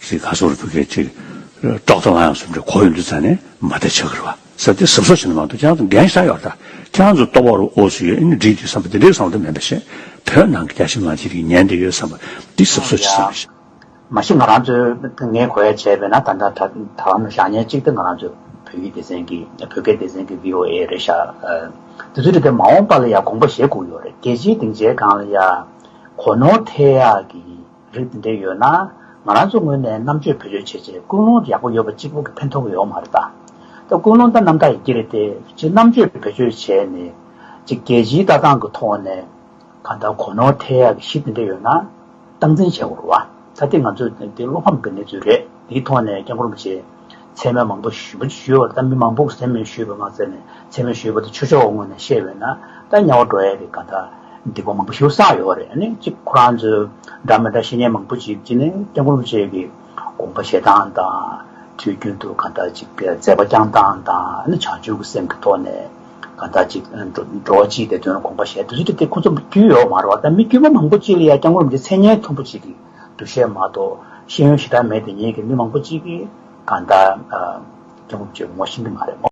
ཞེས་ག་སོགས་རུ་བུ་སྐད་ཅིག། ཏྲོག་ཏྲོག་ལང་ཡང་སུམ་སྒྲས་གོ་ཡོད་འདུག་ཙང་ནས་མ་དད་ཆག་གིར་བ་སྲབ་སྟེ་སྲབ་སྲོག་བྱེད་ན་མང་དུ་ཀྱང་ཙང་རྒན་ཤ་ཡོར་ད་ཀྱང་ཙོ་ཏོ་བ་རུ་ཨོ་སུ་ཡོད་ཨེ་ནི་འགྲིག་འདུག་བསམ་པ་དེ་འདྲའི་བསམ་བློ་དེ་མེད་པ་ཞིག་བོད་ནང་གི་རྒྱ་ཞིང་མང་ཅིག་གིས་ཉན་བསྡད་ཡོད་བསམ་པ་འདི་སྲབ་སྲོག་བྱེད་སའི་མི། མ་གཞི་ང་རང་ཚོས་ངའི་གོ་ཡ་བྱས་པས་ན་ད་ལྟ་ད་ལམ་ཞག་ཉེར་གཅིག་དེ་ང་རང་ཚོས་བོད་ཡིག་སྡེ་ཚན་གི་བོད་སྐད་སྡེ་ཚན་གི VOA རེད་ཤག་དེ་ཚོས་དེ་ལྟར་མ་འོངས་པ་ལ་ཡང་དགོངས་པ་བཞེས་བསྒུག་ཡོད་རེད་རྒྱལ་སྤྱིའི་སྡིངས་ཆའི་སྒང་ལ་ཡང་གོ་ནོར་ཐེག་ཡག་གི། རིགས་འདི་འདྲའི་ཡོད་ན། ང་རང་ཚོ་ངོས་ནས་རྣམ་དཔྱོད་བེད་སྤྱོད་བྱས་རྗེས་ཀུན་སློང་ཡག་པོ་ཡོད་པ་གཅིག་པོ་གི་ཕན་ཐོགས་ཀྱི་ཡོད་མ་རེད་ད། ད་ཀུན་སློང་ད་རྣམ་དག་ཡི་གེ་རེད་དེ། གཅིག་རྣམ་དཔྱོད་བེད་སྤྱོད་བྱས་ནས། གཅིག་རྒྱལ་སྤྱིའི་ལྟ་སྟངས་ཀྱི་ཐོག་ནས། གང་ལྟར་གོ་ནོར་ཐལ་ཡག་གི་གཞི་འདི་འདྲ་ཡོད་ན། སྟངས་འཛིན་བྱེད་དགོས་རེད་བ། ད་དེ་ང་ཚོའི་དེ་བློ་ཕམ་གྱི་གནས་ཚུལ་རེད་དེའི་ཐོག་ནས་སྐྱག་འཁུར་མི་བྱེད། མཚན་མོ་མང་པོ་ཞུས་པ་ཞུས་བར་ད་མི་མང་པོ་མཚན་མོ་ཞུས་པ་མ་ཚད་ནས་མཚན་མོ་ཞུས་པ་དེ་ཆོས་ཕྱོགས་ངོས་ནས་བཤད་བས་ན་ད་དམྱལ་བ་འགྲོ་ཡས་རེད་ག་ད་སྡིག་པ་མང་པོ་ཞུ་ས་ཡོད་བ་རེད་ནི་གཅིག་ཁོ་རང་ཚོས་འདྲ་མི་འདྲ་བཤེས་གཉེན་མང་པོ་ཅིག་གཅིག་ནི་དཔལ་འཁོར་བཅས་ཀྱི་དགོངས་པ་བཞེས་སྟངས་དང། དུས་རྒྱུན་དུ་ག་ད་ཅིག་མཛད་པ་བསྐྱངས་སྟངས་དང་ནི་བྱང་ཆུབ་ཀྱི་སེམས་ཀྱི་ཐོག་ནས་ག་ད་ཅིག་འགྲོ་བ་སྤྱིའི་བདེ་དོན་དགོངས་པ་བཞེས་དུས་ཚོད་དེ་ཁོ་ཚོ་བརྒྱུད་ཡོད་མ་རེད་བ་ད་མི་བརྒྱུད་པ་མང་པོ་ཅིག་ལ་ཡ་སྐྱ་ངོས་རང་ཚོའི་མཚན་སྙན་མཐོན་པོ་ཅིག་གིས། འདུ་ཤེས་མ་གཏོགས་ཤེས་ཡོན་ཞེ་དྲག་མེད་དེ་ཉིད་ཀྱི་མི་མང་པོ་གཅིག་གིས་གང་ལྟར། སྐྱེ་བོ་བཅོས་མོ་ཤེས་ཀྱི་མ་རེད།